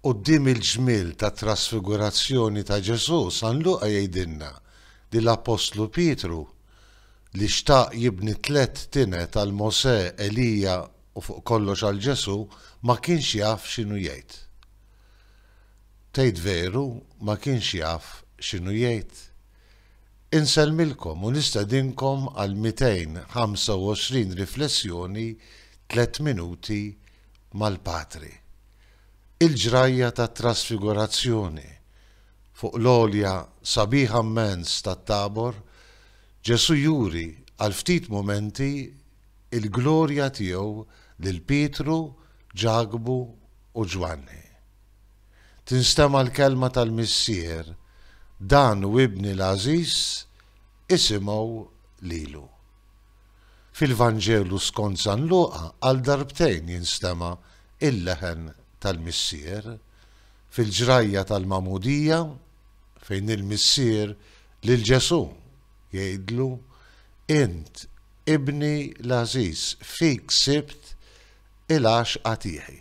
Quddiem il-ġmiel tat-trasfigurazzjoni ta' Ġesù, San Luqa jgħidilna li l-appostlu Pietru, li xtaq jibni tliet tined għal Mosè, Elija u fuq kollox għal Ġesù, ma kienx jaf x'inhu jgħid. Tgħid veru ma kienx jaf x'inhu jgħid? Insellmilkom u nistedinkom għal 225 riflessjoni tliet minuti mal-Patri. Il-ġrajja tat-Trasfigurazzjoni, fuq l-għolja sabiħa mmens tat-Tabor, Ġesù juri għal ftit mumenti l-glorja tiegħu lil Pietru, Ġakbu u Ġwanni. Tinstema' l-kelma tal-Missier, Dan hu Ibni l-għażiż, isimgħu lilu. Fil-Vanġelu skont San Luqa għal darbtejn jinstema' l-leħen tal-Missier, fil-ġrajja tal-Magħmudija, fejn il-Missier lil Ġesù jgħidlu, Int Ibni l-għażiż, fik sibt il-għaxqa tiegħi.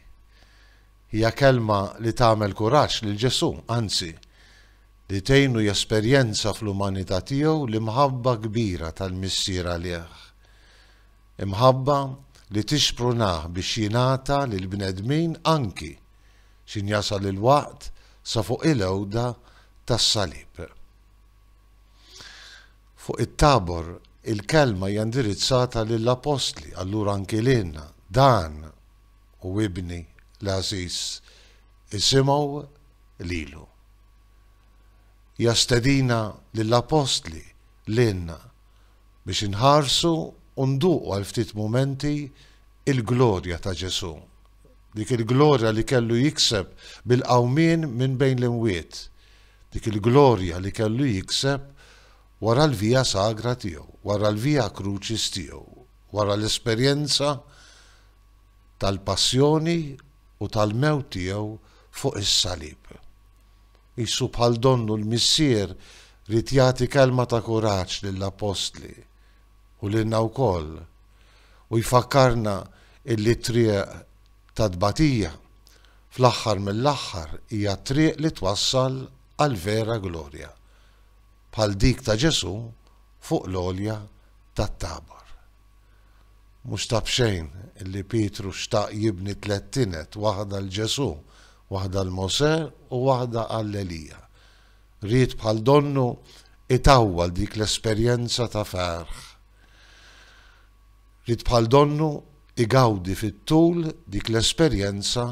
Hija kelma li tagħmel kuraġġ lil Ġesù, anzi, li tgħinu jesperjenza fl-umanità tiegħu l-imħabba kbira tal-Missier għalih. Imħabba li tixprunah biex jingħata lill-bnedmin anki x'in jasal il-waqt sa fuq il-għewda tas-salib. Fuq it-Tabor il-kelma hija indirizzata lill-appostli, allura anki lilna. Dan u ibni l-għażiż isimgħu lilu. Hija stedina lill-appostli, lilna, biex inħarsu u nduqu għal ftit mumenti il-glorja ta' Ġesù, dik il-glorja li kellu jikseb bil-qawmien minn bejn l-imwiet, dik il-glorja li kellu jikseb wara l-Via Sagra tiegħu, wara l-Via Crucis tiegħu, wara l-esperjenza tal-passjoni u tal-mewt tiegħu fuq is-salib. Qisu bħal donnu l-Missier ried jagħti kelma ta' kuraġġ lill-appostli, u lilna wkoll, u jfakkarna illi t-triq tat-tbatija, fl-aħħar mill-aħħar hija t-triq li twassal għall-vera glorja, bħal dik ta' Ġesù fuq l-għolja tat-Tabor. Mhux ta' b'xejn li Pietru xtaq jibni tliet tined, waħda 'l Ġesù, waħda 'l Mosè u waħda għal Elija. Ried bħal donnu jtawwal dik l-esperjenza ta' ferħ. Ried bħal donnu jgawdi fit-tul dik l-esperjenza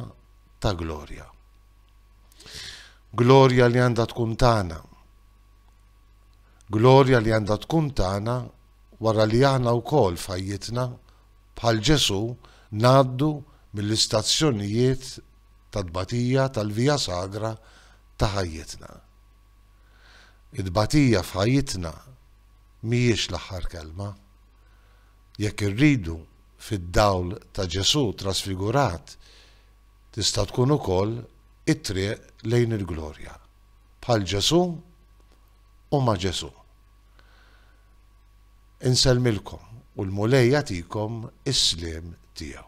ta' glorja. Glorja li għandha tkun tagħna. Glorja li għandha tkun tagħna wara li aħna wkoll f'ħajjitna, bħal Ġesù, ngħaddu mill-istazzjonijiet ta' tbatija tal-via sagra ta' ħajjitna. It-tbatija f'ħajjitna mhijiex l-aħħar kelma. Jekk irridu, fid-dawl ta' Ġesù trasfigurat, tista' tkun ukoll it-triq lejn il-glorja, bħal Ġesù u ma' Ġesù. Insellmilkom u l-Mulej jagħtikom is-sliem tiegħu.